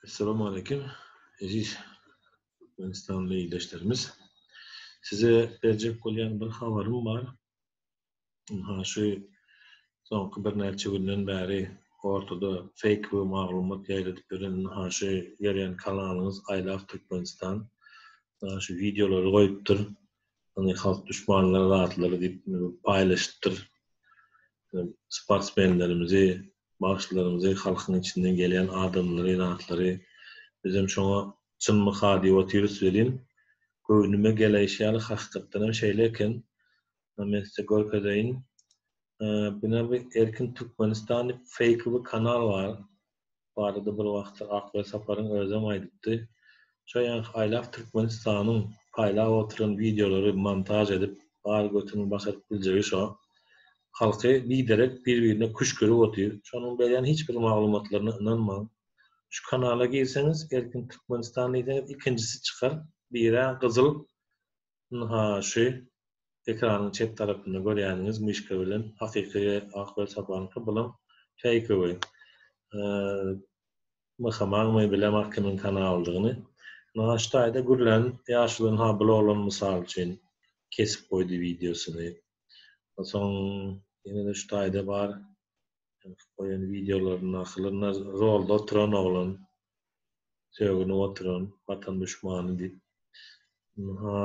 Assalamu aleykum, eziz türkmenistanly ildeşlerimiz. Size berjek bolýan bir habarym bar. Ha şu soňky birnäçe günden bäri ortada fake we maglumat ýaýradyp ýören ha şu ýörýän kanalyňyz Aýlap Türkmenistan şu wideolary goýupdyr. Ony halk düşmanlary zatlar diýip paýlaşypdyr. Sportsmenlerimizi, bagşylarymyzy, halkyň içinden gelýän adamlary, zatlary bizem şoňa çynmyka diýip otyrys welin, göwnüme geleýşi ýaly hakykatdan hem şeýle eken. Men size görkezeýin. Bine bir Erkin Türkmenistan diýip feýkowy kanal bar. barada bir wagtlar Akbaý Saparyň özem aýdypdy. Şo ýaňky aýlap Türkmenistanyň paýlap oturan wideolary montaž edip bar götüniň başaryp biljegi şo. Halky biderek bir-birine küşgürip otyr. Şonuň berýän hiç bir maglumatlaryna ynanmaň. Şu kanala girseňiz Erkin Türkmenistan diýseňiz ikinjisi çykar. Birä gyzyl Ynha, şu ekranyň çep tarapynda görýäniňiz myşka bilen hakyky ak welsapanka bulam feýkowy. Myhamagmy bilemok kimiň kanalydygyny. Ynha şu taýda gürlän ýaşuly ynha bul oglan mysal üçin kesip goýdy wideosyny. Onsoň ýene-de şu taýda bar. Goýan wideolaryny asylynda rolda oturan oglan sögünip oturan watan duşmany diýip. Ha.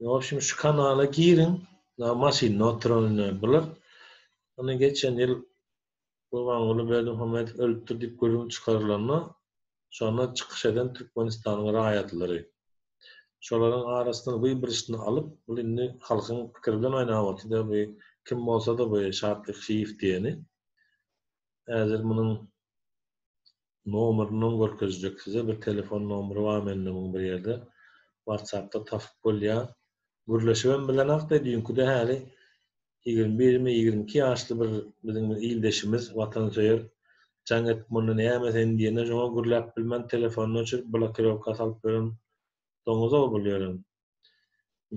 Ýok şu kanala giriň. Na maşynda oturanyny bular. Ony geçen ýyl Gurbanguly Berdimuhamedow ölüpdir diýip gürrüň çykarylanda Şonda çykyş eden Türkmenistanyň raýatlary, şolaryň arasyndan we birisini alyp, bul indi halkyň pikiri bilen oýnap otyr-da we kim bolsa-da we Şatlyk Şiýew diýeni, häzir munuň nomeriniň görkezjek size, bir telefon nomeri bar mende muň bir ýerde, WhatsApp-da tapyp bolýar. Gürleşibem bilenok-da, düýnküde häli ýigrimi birmi, ýigrimi iki ýaşly bir biziň bir ildeşimiz, watansöýer. Jaň edip munda näme sen diýende, şoňa gürläp bilmän telefonyny öçürip, blokirowka salyp ýören doňuz-ow bul ýören.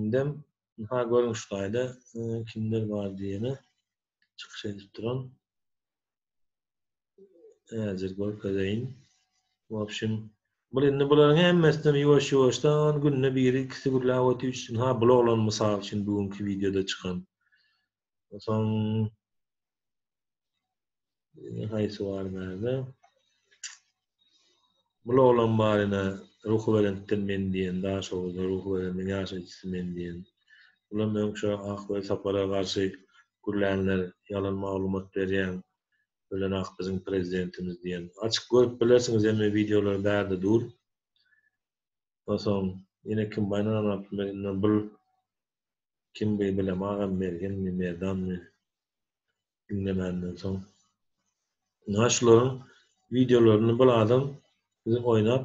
Indem, ynha, görüň şu taýda kimler bar diýeni çykyş edip duran. Häzir görkezeýin. Bu opşin. Bu indi bularyň hemmesini ýuwaş ýuwaşdan günde biri ikisi gürläp otyp üçin ha bu oglan mysal üçin bu günki wideoda çykan. Soň Haýsy bar näme? Bul oglan baryna Ruhubelentden men diýen, Daşoguzda Ruhubelendiň ýaşaýjysy men diýen, bulam öň şo Ak Welsapara garşy gürlänler, ýalan maglumat berýäň, ölen ak biziň prezidentimiz diýen. Açyp görüp bilersiňiz hemme wideolary bärde dur. Onsoň ýene kim baýyna ganapdy Mergenler bul kim by bilemagam Mergenmi Merdanmy. diňlemänden soň. Ynha şularyň wideolaryny bir adam bizi oýnap,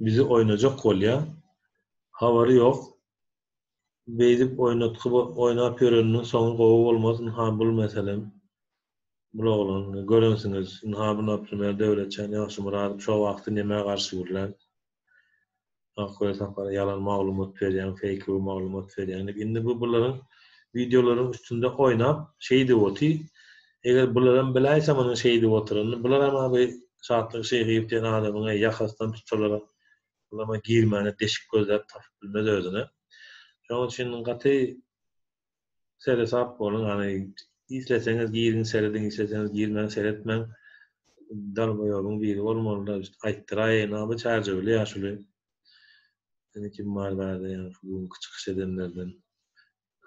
bizi oýnajak bolýar. Habary ýok. Beýdip oýnatgy oýnap ýöreniniň soňy gowy bolmaz. Ynha bul meselem. Bul oglan, görensiňiz, ynha bu Naprimýer Döwletjan Ýagşymyradow şo wagty nemä garşy gürlän. Akgöz Sapar ýalan maglumat berýäň, feýklew maglumat berýäň diýip. Indi bu bularyň wideolaryň üstünde oýnap, şeý diýip oty. Eger bularam biläýse munuň şeý diýip oturanyny, bularam a bir Şatlyk Şeýhiew diýen adamyňa ýakasdan tutsalar, bulam a girmäne deşik gözläp tapyp bilmez özüne. Şonuň üçin gaty seresap boluň ýagny isleseňiz giriň serediň isleseňiz girmäň seretmäň dalboýobyň biri bolmalyda aýtdyraýyn aga çärjewli ýaşuly ýene kim bar bärde ýa şu günki çykyş edenlerden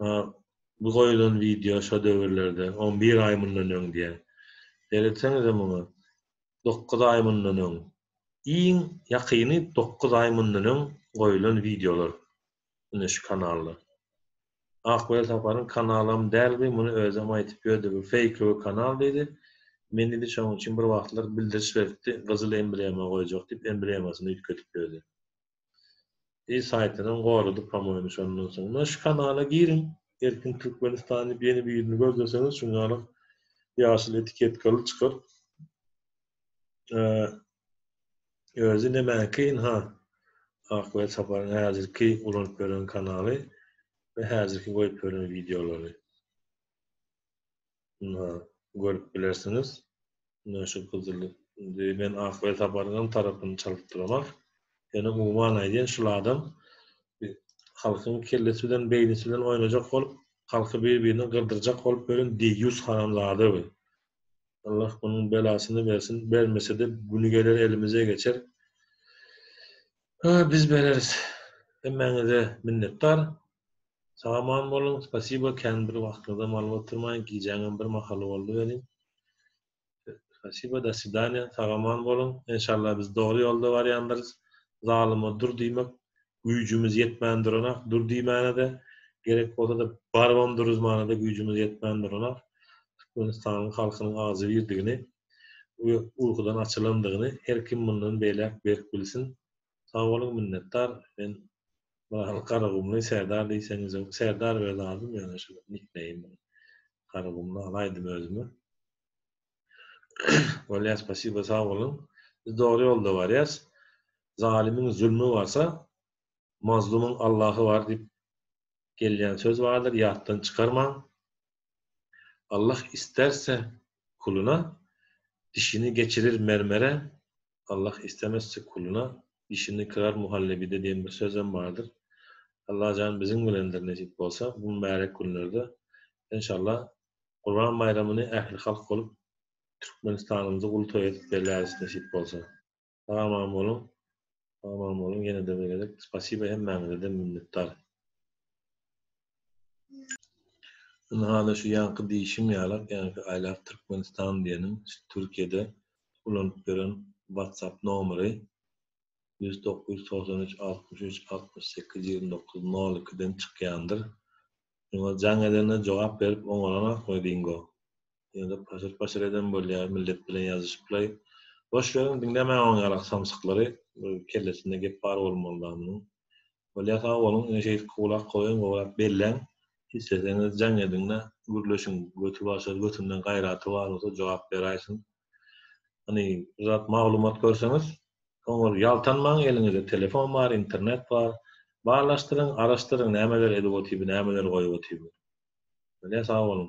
ha bu goýulan wideo şo döwürlerde on bir aý mundan öň diýen seretseňizem muňa dokuz aý mundan öň iň ýakyny dokuz aý mundan öň goýulan wideolar ine şu kanalda. Ak welsaparyň kanalam däl bu muny özem aýtyp ýördi bu feýkowy kanal diýdi. Men diýdi şoň üçin bir wagtlar bildiriş beripdi gyzyl emblema goýjak diýip emblemasyny üýtgedip ýördi. Diýdi saýtynam goradyp pamoýyny şondan soň. Muny şu kanala giriň Erkin Türkmenistan diýip ýene bir ýüzüni görseseňiz şuňňalyk ýaşyl etiketkaly çykar. Özi nämäki ynha ak we saparyň häzirki ulanyp ýören kanaly we häzirki goýup ýören wideolary. Ynha görüp bilersiňiz. Ynha şu gyzyl indi men ak we saparyň hem tarapyny çalyp duramak. Ýöne umuman aýdýan şul adam halkyň kellesi bilen beýnisi bilen oýnajak bolup halky bir birine gyrdyrjak bolup ýören deýýus haramzada bu. Allah bunun belasyny bersin bermesede güni geler elimize geçer Aa biz bereris hemmäňize minnetdar Sag aman boluň spasibo kän bir wagtyňyzam alyp oturmaýyn gijäňem bir mahaly boldy welin Spasibo da swidaniýa sag aman boluň enşalla biz dogry ýolda barýandyrys zalyma dur diýmek güýjümiz ýetmän duranak, dur diýmäne-de, gerek bolsa-da, barybam duruzmana-da güýjümiz ýetmän duranak, Türkmenistanyň halkynyň agzybirdigini we urhudan açylandygyny her kim mundan beýläk berk bilsin. Sag boluň, minnetdar. Men Myral Garagumly, Serdar diýseňizem, Serdar öz adym, ýöne şu nikneým, Garagumly al aýdym özüme. Bolýar, spasiba, sag boluň. Biz dogry ýolda barýas. Zalymyň zulmy barsa, mazlumyň Allahy bar diýip gelýän söz bardyr, ýatdan çykarmaň. Allah isterse kuluna dişini geçirir mermere, Allah istemezse kuluna dişini kırar muhallebide diýen bir sözem bardyr. Allajan biziň bilendir nesip bolsa bu mübärek günlerde. Enşallah Gurban baýramyny ählihalk bolup Türkmenistanymyzy uly toý edip belläris nesip bolsa. Sag aman boluň Sag aman boluň ýenede bir gezek spasiba hemmäňizeden minnetdar. Indi hany şu ýaňky diýişim ýalak ýaňky aýlap Türkmenistan diýeniň şu Türkiýede ulanyp ýören WhatsApp nomeri ýüz dokuz ýüz togsan üç altmyş üç altmyş sekiz ýigrimi dokuz nol ikiden çykýandyr Şuňa jaň edene jogap berip oňalanokmy Dingo? Ýa-da paşyr-paşyr eden bolýar, millet bilen ýazyşyplaý. Boş beriň, diňlemäň oň ýalak samsyklary, bir kellesinde gep bar bolmaly dagy munuň. Bolýa sag boluň, ine şeýdip gulak goýuň, gowrak belläň, isleseňiz jaň ediň-de, gürleşiň, götübaşar götünden gaýraty bar bolsa jogap beräýsin, Hani bir zat maglumat görseňiz, oňa ýaltanmaň, eliňizde telefon bar, internet bar. Barlaşdyryň, araşdyryň, nämeler edip otyby, nämeler goýup otyby. Bilýän sag boluň.